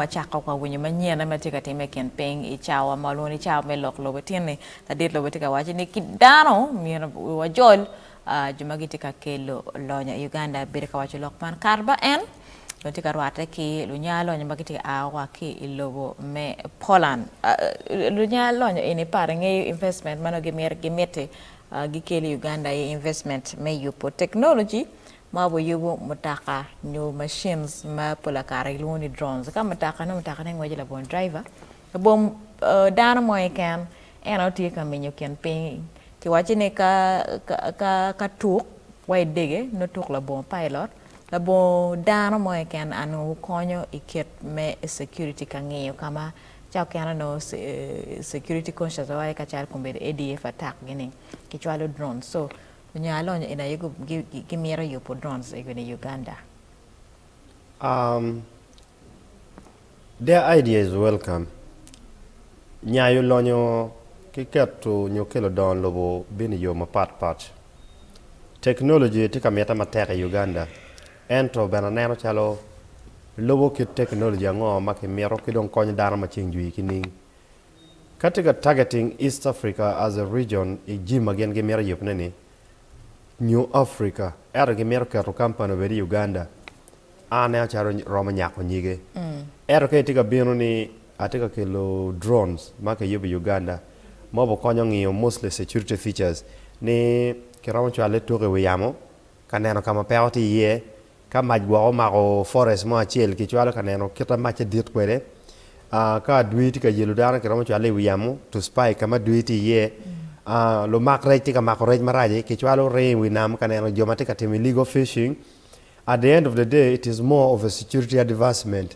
Wacako wa winyo manyen ame tye ka time i kin piny i cawa ma walwongo ni cawa me lok lobe tini. Ladit lobe tye ka waco ni ki dano myero wiwa jol jo ma gitye ka kelo lonyo i Uganda bedo ka waco lok man kato ba en dong tye ka rwate ki lunya lonyo ma gitye ka a wa ki i lobo me Poland. Lunya lonyo eni pare ngeyo investment ma nongo gimiti gikel i Uganda aye investment me yubo teknoloji ma wayubo mutoka nyo machines ma pol kare kilwongo ni drones ka mutoka nongo mutoka ne ngweco labongo driver labongo dano mo keken en aye tye ka menyo kin piny ki waco ni ka tuk wa idege nongo tuk labongo pilot labongo dano mo keken and onongo konyo i kit me security ka ngiyo ka ma ca mukene onongo security concious wa aye calo ADF attack gi ni ki cwalo drones so Onyo alony eni aye gimito yubo drones ego ni Uganda? Um, their idea is welcome. Nyayo lonyo ki keto nyo kelo dongo lobo bino i yo mapat pat. Technology tye ka mitte matek i Uganda, ento bene aneno calo lubo kit technology ango ma kimito ki dong konyo dano ma ceng jwi ki ning. Ka tye ka targeting East Africa as a region i jim ma gin gimito yubne ni New Africa, ento gimito keto company obed i Uganda, ane acalo romo nyako nyige. Ento ka itye ka bino ni atye ka kelo drones ma kiyubo i Uganda ma obukonyo ngiyo mostly security features ni kiromo cwale tuko i wi yamo Ka neno ka ma peko tye iye. Ka mac gwok omako forest mo acel, kicwalo ka neno kit ma macce dit kwede. Ka adwi tye ka yelo dano, kiromo cwale i wi yamo to spike ka ma adwi tye iye. Lumak rec tye ka mako rec marac-ci, kicwalo ringo i wi nam ka neno jo ma tye ka timo illegal fishing. At the end of the day, it is more of a security advancement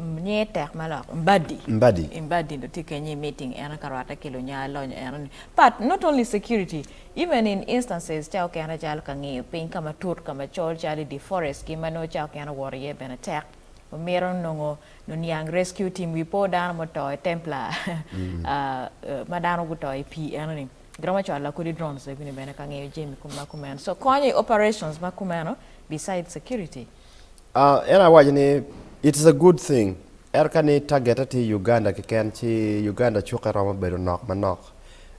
Nyinge tek ma lok, Mbadi. Mbadi. Mbadi nongo tye kenyo i meeting eno ka rwatte ki lunya lonyo eno ni. But not only security, even in instances ca okene calo ka ngiyo piny ka matut ka macol calo i di forest ki ma nongo ca okene owoto iye bene tek. Omito nongo noniang rescue team wi po dano ma oto i Templar ma dano guto i pii eno ni. Giromo cwalo lakodi drones bene ka ngiyo jami ma kumeno. So konyo i operations ma kumeno besides security. En awaco ni it is a good thing ento ka ni tagete tye Uganda keken ci Uganda cukke romo bedo nok manok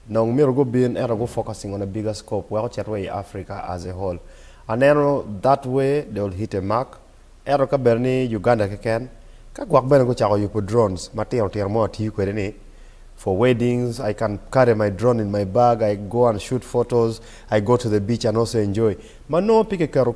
dong myero gubin ento gu focusing on a bigger scope wek ocit wa i Africa as a whole aneno that way they will hit a mark ento ka bed ni Uganda keken ka gwok bene gucako yubo drones matino tino ma watiyo kwede ni for weddings I can carry my drone in my bag I go and shoot photos I go to the beach and also enjoy ma nongo pe kiketo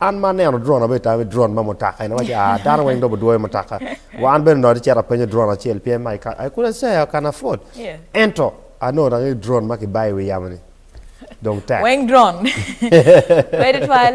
An ma aneno drone abedo tami drone ma mutoka eni waci ah dano weng dobo dwoyo mutoka wa an bene onongo atye cito apenyo drone acel pien ma I couldn't say I can afford ento anongo dok ni drone ma kibayo i wi yamo ni dong tek. Weng drone pe tutwal.